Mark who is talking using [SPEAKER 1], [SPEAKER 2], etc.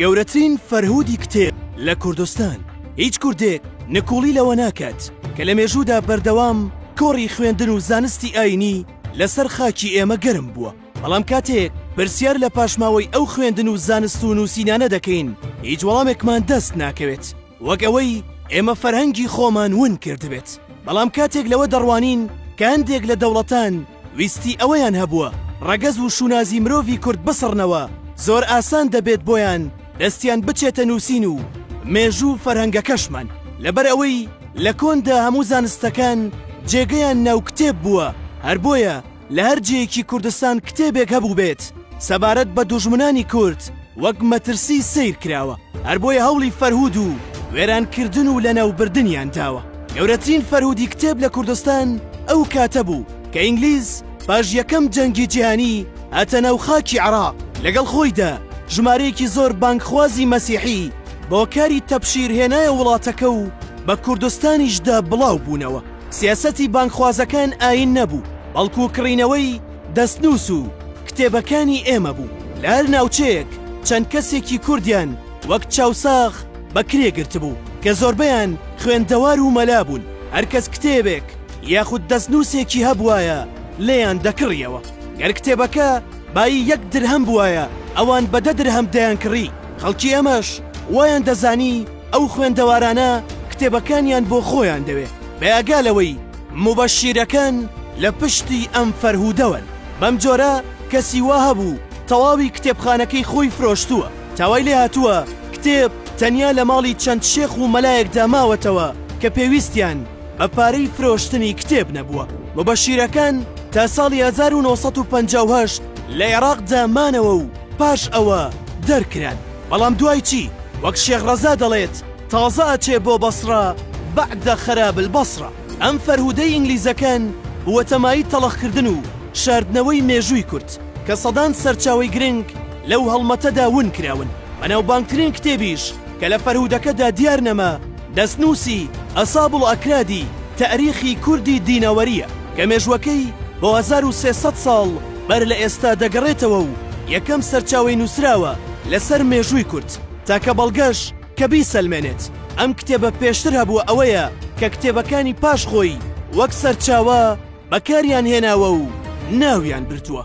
[SPEAKER 1] گەورەترین فەرهودی کتێب لە کوردستان هیچ کوردێک نکوڵی لەوە ناکات کە لە مێژوودا بەردەوام کۆڕی خوێندن و زانستی ئاینی لەسەر خاکی ئێمە گەرم بووە بەڵام کاتێک پرسیار لە پاشماوەی ئەو خوێندن و زانست و نووسینانە دەکەین هیچ وەڵامێکمان دەست ناکەوێت وەک ئەوەی ئێمە فەرهەنگی خۆمان ون کردبێت، بەڵام کاتێک لەوە دەڕوانین کە هەندێک لە دەوڵەتان ویستی ئەوەیان هەبووە ڕەگەز و شوناسی مرۆڤی کورد بسڕنەوە، زۆر ئاسان دەبێت بۆیان دەستیان بچێتە نووسین و مێژوو و فەرهەنگەکەشمان. لەبەر ئەوەی لە کۆندا هەموو زانستەکان جێگەیان ناو کتێب بووە، هەر بۆیە، لە هەر جێیەکی کوردستان کتێبێک هەبووبێت سەبارەت بە دوژمنانی کورد وەک مەترسی سیر کراوە هەر بۆیە هەوڵی فەرهود و وێرانکردن و لەناوبردنیان داوە گەورەترین فەرهودی کتێب لە کوردستان ئەو کاتە بوو کە ئینگلیز پاش یەکەم جەنگی جیهانی هاتە ناو خاکی عراق لەگەڵ خۆیدا ژمارەیەکی زۆر بانگخوازی مەسیحی بۆ کاری تەبشیر هێنایە وڵاتەکە و بە کوردستانیشدا بڵاو بوونەوە. سیاسەتی بانگخوازەکان ئایین نەبوو، بەڵکو کڕینەوەی دەستنووس و کتێبەکانی ئێمە بوو. لە هەر ناوچەیەک چەند کەسێکی کوردیان وەک چاوساغ بەکرێ گرتبوو، کە زۆربەیان خوێندەوار و مەلا بوون، هەر کەس کتێبێک یاخود دەستنووسێکی هەبوایە لێیان دەکڕییەوە. گەر کتێبەکە بایی یەک درهەم بوایە، ئەوان بە دە درهەم دەیانکڕی، خەڵکی ئێمەش وایان دەزانی، ئەو خوێندەوارانە کتێبەکانیان بۆ خۆیان دەوێ بەیاگا لەوەی موبەشیرەکان لە پشتی ئەم فەرهودەوەن بەم جۆرە کەسی وا هەبوو تەواوی کتێبخانەکەی خۆی فرۆشتووە تاوای لێ هاتووە کتێب تەنیا لە ماڵی چەند شێخ و مەلایەکدا ماوەتەوە کە پێویستیان بە پارەی فرۆشتنی کتێب نەبووە موبەشیرەکان تا ساڵی 1958 لە عێراقدا مانەوە و پاش ئەوە دەرکران. بەڵام دوای چی؟ وەک شێخ ڕەزا دەڵێت تازە ئەچێ بۆ بەسڕە بعد خراب البصرە. ئەم فەرهودەی ئینگلیزەکان بووەتە مایەی تەڵخکردن و شاردنەوەی مێژووی کورد کە سەدان سەرچاوەی گرنگ لەو هەڵمەتەدا ون کراون. بەناوبانگترین کتێبیش کە لە فەرهودەکەدا دیار نەما، دەستنووسی، اصاب الاکراد، تاریخی کوردی دینەوەرییە، کە مێژووەکەی بۆ هەزار و سێ سەد ساڵ بەر لە ئێستا دەگەڕێتەوە و یەکەم سەرچاوەی نووسراوە لەسەر مێژووی کورد. تاکە بەڵگەش کە بیسەلمێنێت ئەم کتێبە پێشتر هەبووە ئەوەیە کە کتێبەکانی پاش خۆی وەک سەرچاوە بەکاریان هێناوە و ناویان بردووە.